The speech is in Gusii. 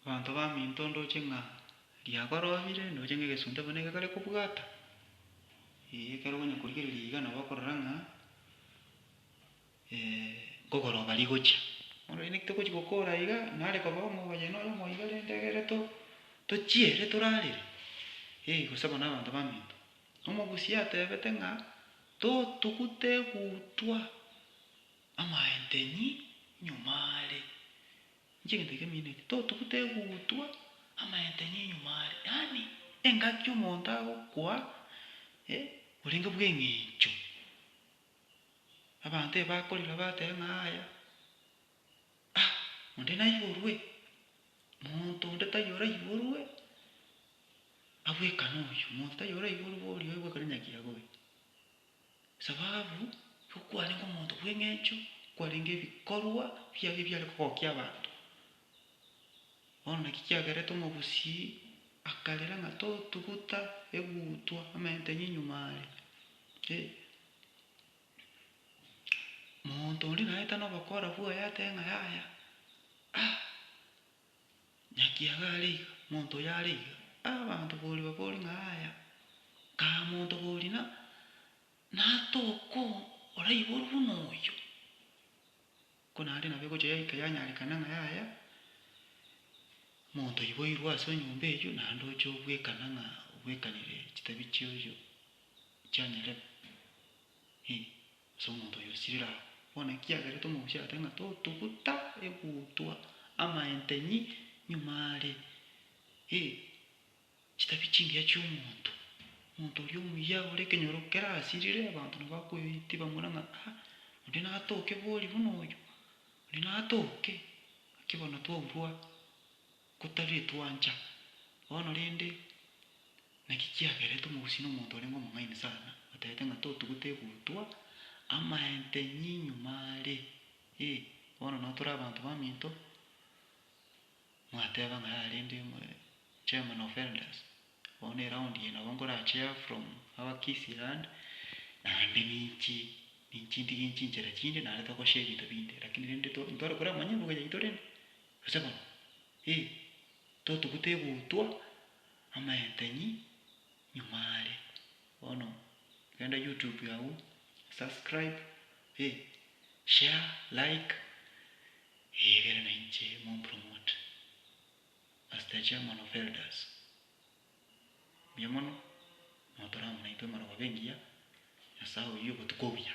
Abanto baminto ndoche ng'a riakorobire, ndoche ng'a egesunte bono ekero kare kobwata, eh, ekero okonya korigereria iga nabo okorora ng'a nkogoroba rigochia. Bono riria togochia gokora iga, nare koba omoyeni oyomo iga rende egere to- tochiere torarere, eh, gose abana abanto baminto. Omogusia atebete ng'a to- togute egutwa amaenteni nyuma are, Inche egento ekiya mindetie, totugute egutwa amayentenyo nyuma are, yaani engaki omonto agokoa orenge bw'eng'encho. Abanto eba bakorire bateba ng'a yaya, ah, onde naiborwe, monto onde taiyo oraiborwe, abwekane oyio, monto taiyo oraiborwe oria oye bwekane nyakiago oyo. Esababu y'okwarenge omonto bw'engencho kwarenge ebikorwa biaye ebiare kogokia abanto. Bono naki kiagerete omobusii akarera ng'a totuguta egutwa amaenteng'e nyuma are. Monto oria naetano obokora bwaye ateba ng'a yaya Naki iga are iga, monto oyo are iga. Abanto boria bakori ng'a aya, kaa monto boria na natoko oraiborwe buna oyo. Ko nare nabo egocha yaika yanyarekana ng'a yaya, monto oyo boirwe ase enyomba eyio naende oche obwekana ng'a obwekanire chitabi chioyio chianyarema, eh. Ase omonto oyio sirira agwo, bono ekiagerete omogusi agateba ng'a totuguta egutwa amaentenyi nyuma are, ee, chitabi chingiya chi'omonto, omonto oria omuya ore ekenyoro kerasirire, abanto nabo bakoetiba more ng'a aa, onde natoke bori buna oyio, onde natoke, naki bono twaurwa. Kotari twancha bono rende, naki kiagerete omogusii nomonto orenge omong'aini sana, otebete ng'a totugute egutwa amaentenyi nyuma are, ee, bono nao tore abanto baminto, mwateba ng'a yaya rende chairman of elders, bono eround eye nabo nkora chair from our Kisii land, naende ninchi ninchi ntige chinchera chinde naende togoshe ebinto binde, lakini rende to intware koramanya ebuga yaito rende. Gose bono, ee, totuguta egutwa amayentenyi nyuma are. Bono genda YouTube agwo, subscribe, ee, share, like, ee ekere na inche mompromote. Master Chairman of Elders, mbuya mono, notore amo naintwe amarababa engiya, Nyasaye oyio obotuko obuya.